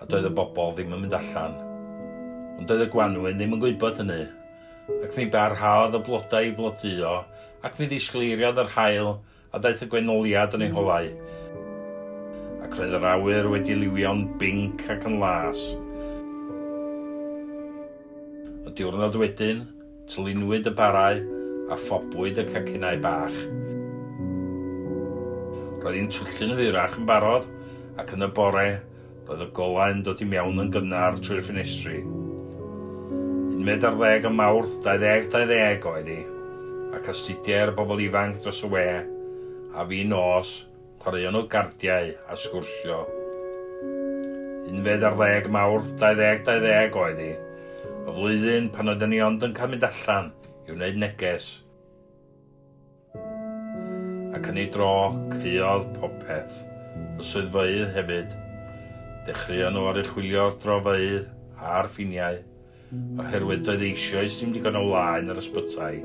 a doedd y bobl ddim yn mynd allan. Ond doedd y gwanwyn ddim yn gwybod hynny, ac mi barhaodd y blodau i flodeuo, ac mi ddisgleiriodd yr haul, a daeth y gwenoliad yn ei holau. Ac roedd yr awyr wedi liwio'n binc ac yn las. Y diwrnod wedyn, Tlinwyd y barau a phobwyd y cacinau bach. Roedd hi'n twllio'n hwyrach yn barod, ac yn y bore, roedd y golau'n dod i mewn yn gynnar trwy'r ffenestri. Unfed ar ddeg o Mawrth 2020 oedd hi, ac astudiai'r bobl ifanc dros y we, a fi'n nos, chwaraeon o gardiau a sgwrsio. Unfed ar ddeg Mawrth 2020 oedd i, y flwyddyn pan oedden ni ond yn cael mynd allan i wneud neges. Ac yn ei dro, caeodd popeth, y swyddfeydd hefyd. Dechreuon nhw oruchwylio'r drofeydd a'r ffiniau, oherwydd doedd eisioes ddim digon o wlâu yn yr ysbytai,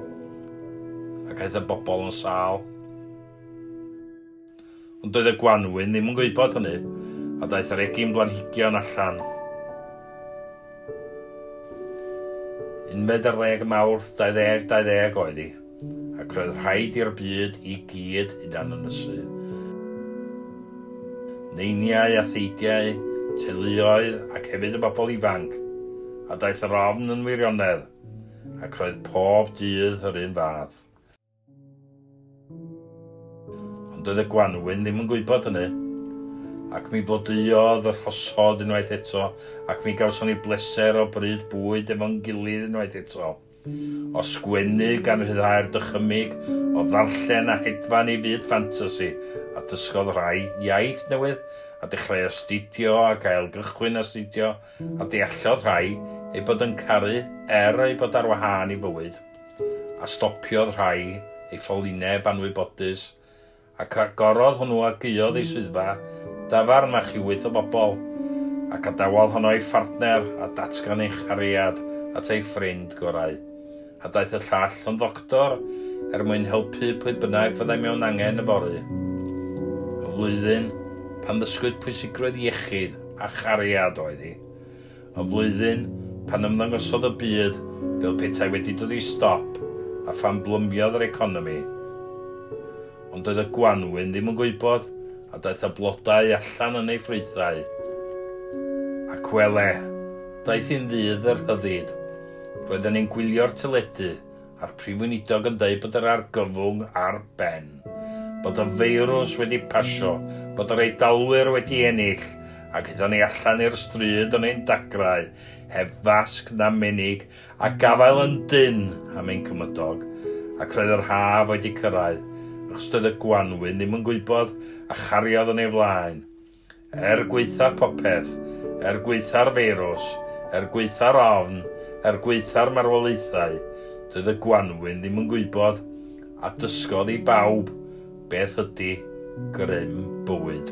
ac aeth y bobl yn sâl. Ond doedd y gwanwyn ddim yn gwybod hynny, a daeth yr egin blanhigion allan. Unfed ar ddeg Mawrth 2020 oedd hi. ac roedd rhaid i'r byd i gyd hunanynysu. Neiniau a theidiau, teuluoedd ac hefyd y bobl ifanc, a daeth yr ofn yn wirionedd, ac roedd pob dydd yr un fath. Ond doedd y gwanwyn ddim yn gwybod hynny, ac mi flodeuodd y rhosod unwaith eto, ac mi gawson ni bleser o bryd bwyd efo'n gilydd unwaith eto. O sgwennu gan ryddhau'r dychymyg o ddarllen a hedfan i fyd ffantasi, a dysgodd rhai iaith newydd, a dechrau astudio ac ailgychwyn astudio, a deallodd rhai ei bod yn caru er ei bod ar wahân i fywyd, a stopiodd rhai ei phollineb anwybodus, Ac agorodd hwnnw a gaeodd ei swyddfa dafarn â chi wyth o bobl, a gadawodd honno ei phartner a datgan ei chariad at ei ffrind gorau. A daeth y llall yn ddoctor er mwyn helpu pwy bynnag fyddai mewn angen yfory. Y flwyddyn pan ddysgwyd pwysigrwydd iechyd a chariad oedd hi. Yn flwyddyn pan ymddangosodd y byd fel petai wedi dod i stop a phan blymiodd yr economi. Ond doedd y gwanwyn ddim yn gwybod a daeth y blodau allan yn ei ffrwythau. Ac wele, daeth hi'n ddydd y rhyddid. Roedden ni'n gwylio'r teledu a'r Prif Weinidog yn dweud bod yr argyfwng ar ben, bod y feirws wedi pasio, bod yr Eidalwyr wedi ennill, ac aethon ni allan i'r stryd yn ein dagrau, heb fasg na menig, a gafael yn dynn am ein cymydog, ac roedd yr haf wedi cyrraedd, achos doedd y gwanwyn ddim yn gwybod a chariodd yn ei flaen. Er gwaetha popeth, er gwaetha'r feirws, er gwaetha'r ofn, er gwaetha'r marwolaethau, doedd y gwanwyn ddim yn gwybod, a dysgodd i bawb, beth ydy grym bywyd.